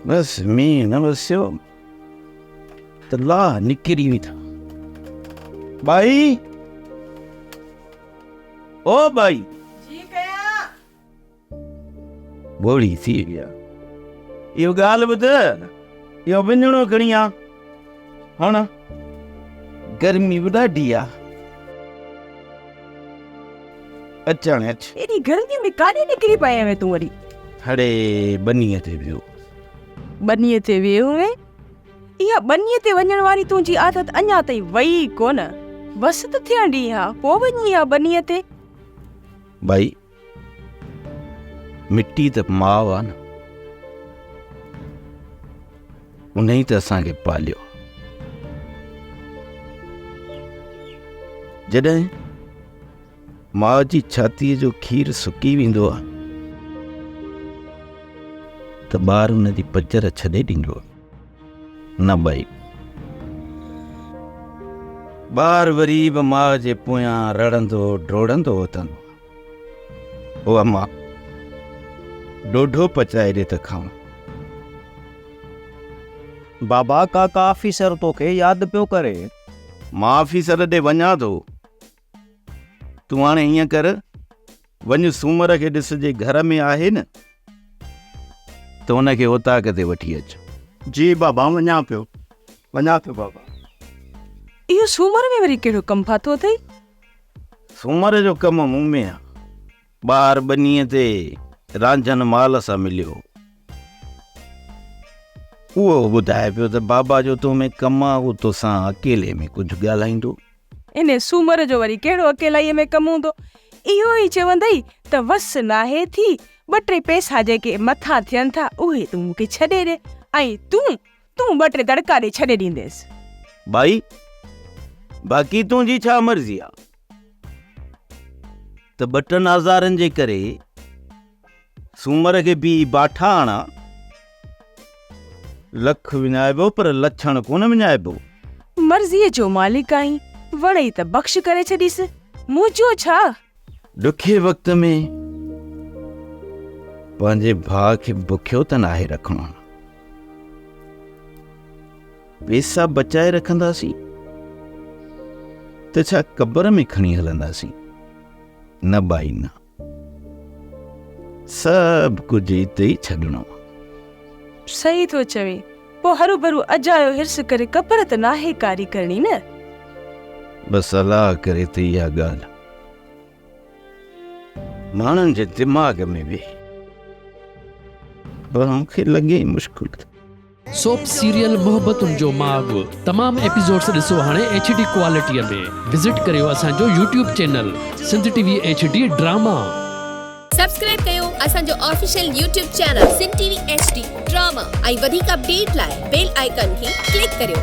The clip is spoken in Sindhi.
بس مينهن نه وسيو ته لاه نڪري ويٺا ٻائي او ٻائي ٻوڙي ٿي ويا اهو ڳالهه ٻڌ اهو ٻنهڻو کڻي آ هاڻ گرمي به ڏاڍي آ اچ هاڻي اچ. ايڏي گرمي ۾ ڪاڏي نڪري پئي آهين تون وري. هڙي ٻنيء تي ويو. ٻنيء تي ويو هئين؟ اها ٻنيء تي وڃڻ واري تنهنجي عادت اڃا تائين وئي ئي ڪونه. بس ته ٿيڻ ڏي ها، پوء وڃي ها ٻنيء تي. ٻائي مٽي ته ماء آ نه ان ئي ته اسان کي پاليو جڏهن ماء جي ڇاتيء جو کير سڪي ويندو آ ته ٻار ان جي پچر ڇڏي ڏيندو آ نه ٻائي ٻار وري به ماء جي پويان رڙندو ڊوڙندو اٿندو آ او اما ڏوڍو پچائي ڏي ته کان. بابا ڪاڪا آفيسر توکي ياد پيو ڪري. مان آفيسر ڏي وڃان ٿو. تون هاڻي هيئن ڪر وڃ سومر کي ڏس جي گهر ۾ آهي نه ته ان کي اوطاق تي وٺي اچ. جي بابا وڃان پيو وڃان ٿو بابا. اهو سومر ۾ وري ڪهڙو ڪم ڦاٿو اٿئي؟ سومر جو ڪم مون ۾ آ. ٻاهر ٻنيء تي رانجهن مال سان مليو. اهو ٻڌائي پيو ته بابا جو تو ۾ ڪم آ، هو توسان اڪيلي ۾ ڪجهه ڳالهائيندو. انهيء سومر جو وري ڪهڙو اڪيلائيء ۾ ڪم هوندو؟ اهو ئي چوندئي ته وس ناهي ٿي، ٻه ٽي پئسا جيڪي مٿان ٿين ٿا، اهي تون مون کي ڇڏي ڏي ۽ تون تون ٻه ٽي دڙڪا ڏئي ڇڏي ڏينديس. ٻائي، باقي تنهنجي ڇا مرضي آ ته ٻه ٽن آزارن جي ڪري سومر کي پي باٺا آڻان. لک وڃائبو پر لڇڻ ڪونه وڃائبو. مرضيء جو مالڪ آهين، وڻئي ته بخش ڪري ڇڏيس، منهنجو ڇا؟ ڏکي وقت ۾ پنهنجي ڀاء کي بکيو ته ناهي رکڻو پيسا بچائي رکنداسين ته ڇا قبر ۾ کڻي هلنداسين نه بائي نه سڀ ڪجهه اتي ئي ڇڏڻو صحيح ٿو چوي پوء هروڀرو اجايو حرص ڪري قبر ته ناهي ڪاري ڪرڻي نه. بس الله ڪري ته اها ڳالهه ماڻهن جي دماغ ۾ ويهي پر مون کي لڳي ئي مشڪل ٿو. سوپ سيريل محبتن جو ماڳ تمام ايپيسوڊس ڏسو هاڻي ايڇ ڊي ڪوالٽي ۾ وزٽ ڪريو اسان جو YouTube channel Sindh T V H D drama. Subscribe ڪيو اسان جو official YouTube channel Sindh T V H D drama ۽ وڌيڪ اپڊيٽ لاء بيل آئيڪان کي ڪلڪ ڪريو.